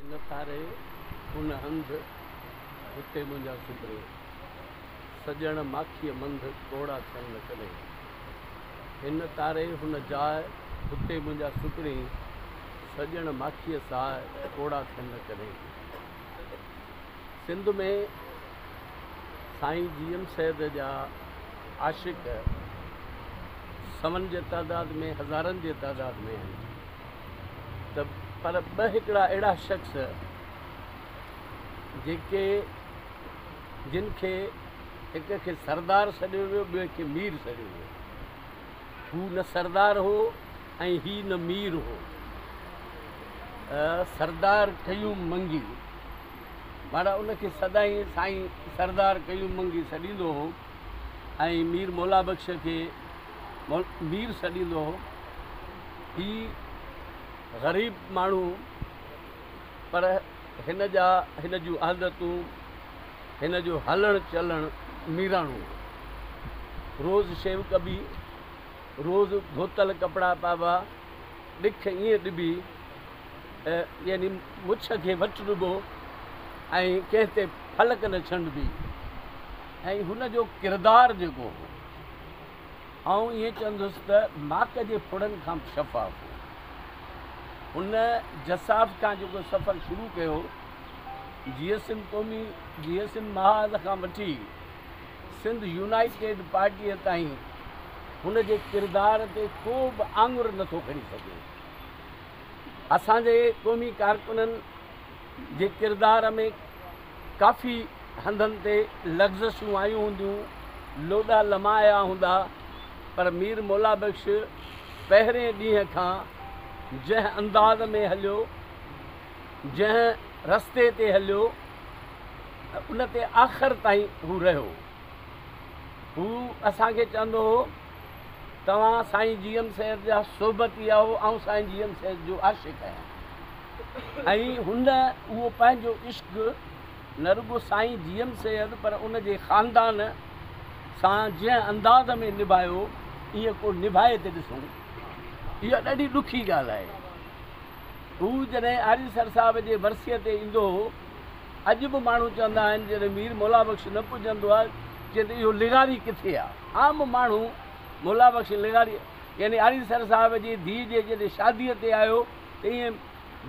هن پاري هن هنڌ، هتي منهنجا سڌري. سڄڻ ماکيء منڌ، ڪوڙا ٿين نه ڪڏهن. هن تاري هن جاء، هتي منهنجا سڌري. سڄڻ ماکيء ساء، ڪوڙا ٿين نه ڪڏهن. سنڌ ۾ سائين جي ايم سيد جا عاشق سون جي تعداد ۾ هزارن جي تعداد ۾ آهن. ته پر ٻه هڪڙا اهڙا شخص جيڪي جن کي هڪ کي سردار سڏيو ويو ٻئي کي مير سڏيو ويو هو نه سردار هو ۽ هي نه مير هو سردار قيوم منگي مانا ان کي سدائين سائين سردار قيوم منگي سڏيندو هو ۽ مير مولا بخش کي مير سڏيندو هو. هي غريب ماڻهو هو پر هن جا هن جون عادتون هن جو هلڻ چلڻ ميراڻو هو. روز شيو ڪبي، روز ڌوتل ڪپڙا پائبا، ڏک ائين ڏبي يعني مڇ کي وٽ ڏبو ۽ ڪنهن تي ڦلڪ نه ڇنڊبي ۽ هن جو ڪردار جيڪو هو. آئون ائين چوندس ته ماڪ جي ڦڙن کان به شفاف هو. هن جساف کان جيڪو سفر شروع ڪيو، جيئي سنڌ قومي، جيئي سنڌ محاذ کان وٺي سنڌ يونائيٽيڊ پارٽيء تائين، هن جي ڪردار تي ڪو به آڱر نه ٿو کڻي سگهي. اسان جي قومي ڪارڪنن جي ڪردار ۾ ڪافي هنڌن تي لغزشون آيون هونديون، لوڏا لمايا هوندا، پر مير مولا بخش پهرين ڏينهن کان جنهن انداز ۾ هليو، جنهن رستي تي هليو، ان تي آخر تائين هو رهيو. هو اسان کي چوندو هو، توهان سائين جي ايم سيد جا صحبتي آهو، آئون سائين جي ايم سيد جو عاشق آهيان. ۽ هن اهو پنهنجو عشق نه رڳو سائين جي ايم سيد پر ان جي خاندان سان جنهن انداز ۾ نڀايو ايئن ڪو نڀائي ته ڏسون اها ڏاڍي ڏکي ڳالهه آهي هو جڏهن آريسر صاحب جي ورسيء تي ايندو هو اڄ به ماڻهو چوندا آهن جڏهن مير مولا بخش نه پڄندو آهي چي ته اهو لغاري ڪٿي آهي عام ماڻهو مولا بخش لغاري يعني آريسر صاحب جي ڌيء جي جڏهن شاديء تي آيو ائين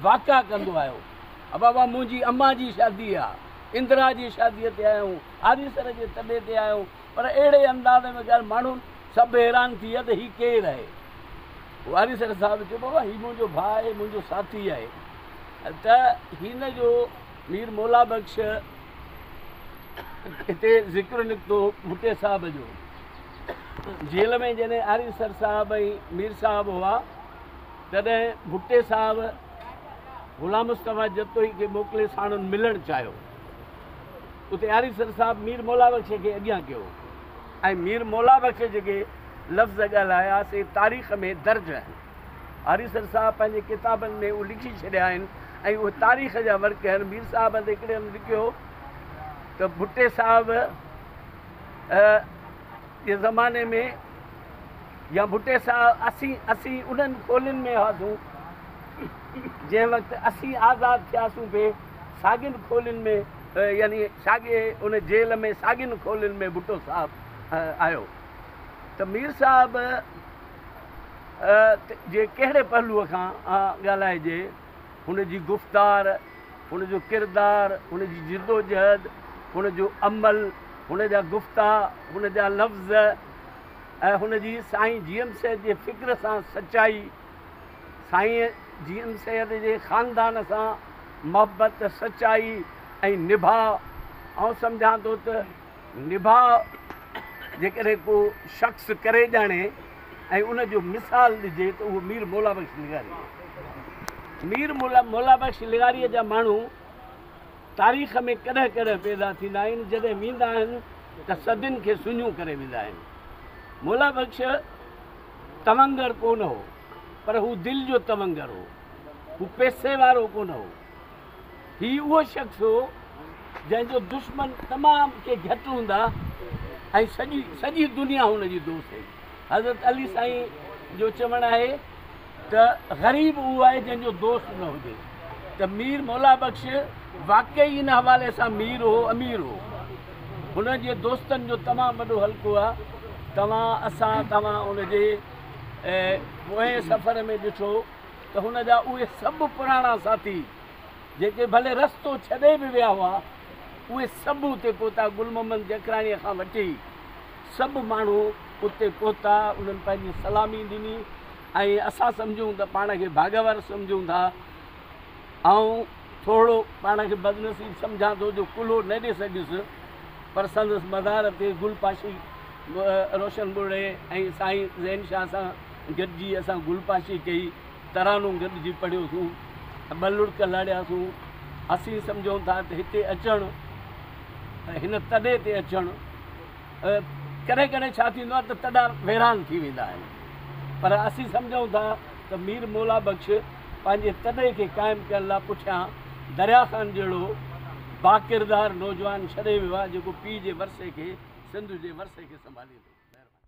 واڪا ڪندو آيو. ابابا منهنجي امان جي شادي آ. اندرا جي شاديء تي آيائون. آريسر جي تڏي تي آيائون. پر اهڙي انداز ۾ ڳالهه ماڻهن سڀ حيران ٿي ويا ته هي ڪير آهي؟ پوء آريسر صاحب چيو بابا هي منهنجو ڀاء آهي منهنجو ساٿي آهي ته هن جو مير مولا بخش هتي ذڪر نڪتو ڀٽي صاحب جو جيل ۾ جڏهن آريسر صاحب ۽ مير صاحب هئا تڏهن ڀٽي صاحب غلام مصطفيٰ جتوئي کي موڪلي ساڻن ملڻ چاهيو. اتي آريسر صاحب مير مولا بخش کي اڳيان ڪيو ۽ مير مولا بخش جيڪي لفظ ڳالهايا سي تاريخ ۾ درج آهن. آريسر صاحب پنهنجي ڪتابن ۾ اهي لکي ڇڏيا آهن ۽ اهي تاريخ جا ورق آهن. مير صاحب هتي هڪڙي هنڌ لکيو ته ڀٽي صاحب جي زماني ۾ يا ڀٽي سان اسين اسين انهن کولين ۾ هئاسون جنهن وقت اسين آزاد ٿياسون به ساڳين کولين ۾ يعني ساڳي ان جيل ۾ ساڳين کولين ۾ ڀٽو صاحب آيو ته مير صاحب جي ڪهڙي پهلوء کان ڳالهائجي هن جي گفتار، هن جو ڪردار، هن جي جدوجهد، هن جو عمل، هن جا گفتا، هن جا لفظ ۽ هن جي سائين جي ايم سيد جي فڪر سان سچائي، سائين جي ايم سيد جي خاندان سان محبت، سچائي ۽ نڀاء، آئون سمجهان ٿو ته. نڀاء، جيڪڏهن ڪو شخص ڪري ڄاڻي ۽ ان جو مثال ڏجي ته اهو مير مولا بخش لغاري هو. مير مولا بخش لغاريء جا ماڻهو تاريخ ۾ ڪڏهن ڪڏهن پيدا ٿيندا آهن، جڏهن ويندا آهن ته صدين کي سڃون ڪري ويندا آهن. مولا بخش تونگر ڪونه هو، پر هو دل جو تونگر هو. هو پئسي وارو ڪونه هو. هي اهو شخص هو، جنهن جو دشمن تمام ڪي گهٽ هوندا ۽ سڄي سڄي دنيا هن جي دوست هئي. حضرت علي سائين جو چوڻ آهي ته غريب اهو آهي جنهن جو دوست نه هجي ته مير مولا بخش واقعي ان حوالي سان مير هو امير هو هن جي دوستن جو تمام وڏو حلقو آهي توهان اسان توهان ان جي پوئين سفر ۾ ڏٺو ته هن جا اهي سڀ پراڻا ساٿي جيڪي ڀلي رستو ڇڏي به ويا هئا اهي سڀ اتي پهتا گل محمد جکراڻيء کان وٺي سڀ ماڻهو اتي پهتا انهن پنهنجي سلامي ڏني ۽ اسان سمجهون ته پاڻ کي ڀاڳيوار سمجهون ٿا آئون ٿورڙو پاڻ کي بدنصيب سمجهان ٿو جو ڪلهو نه ڏي سگهيس پر سندس مزار تي گل پاشي روشن ٻرڙي ۽ سائين زين شاهه سان گڏجي اسان گل پاشي ڪئي، ترانو گڏجي پڙهيوسون ته ٻه لڙڪ لاڙياسون. اسين سمجهون ٿا ته هتي اچڻ، هن تڏي تي اچڻ، ڪڏهن ڪڏهن ڇا ٿيندو آهي ته تڏا ويران ٿي ويندا آهن، پر اسين سمجهون ٿا ته مير مولا بخش پنهنجي تڏي کي قائم ڪرڻ لاء پٺيان دريا خان جهڙو باڪردار نوجوان ڇڏي ويو آهي، جيڪو پيء جي ورثي کي، سنڌ جي ورثي کي سنڀاليندو. مهرباني.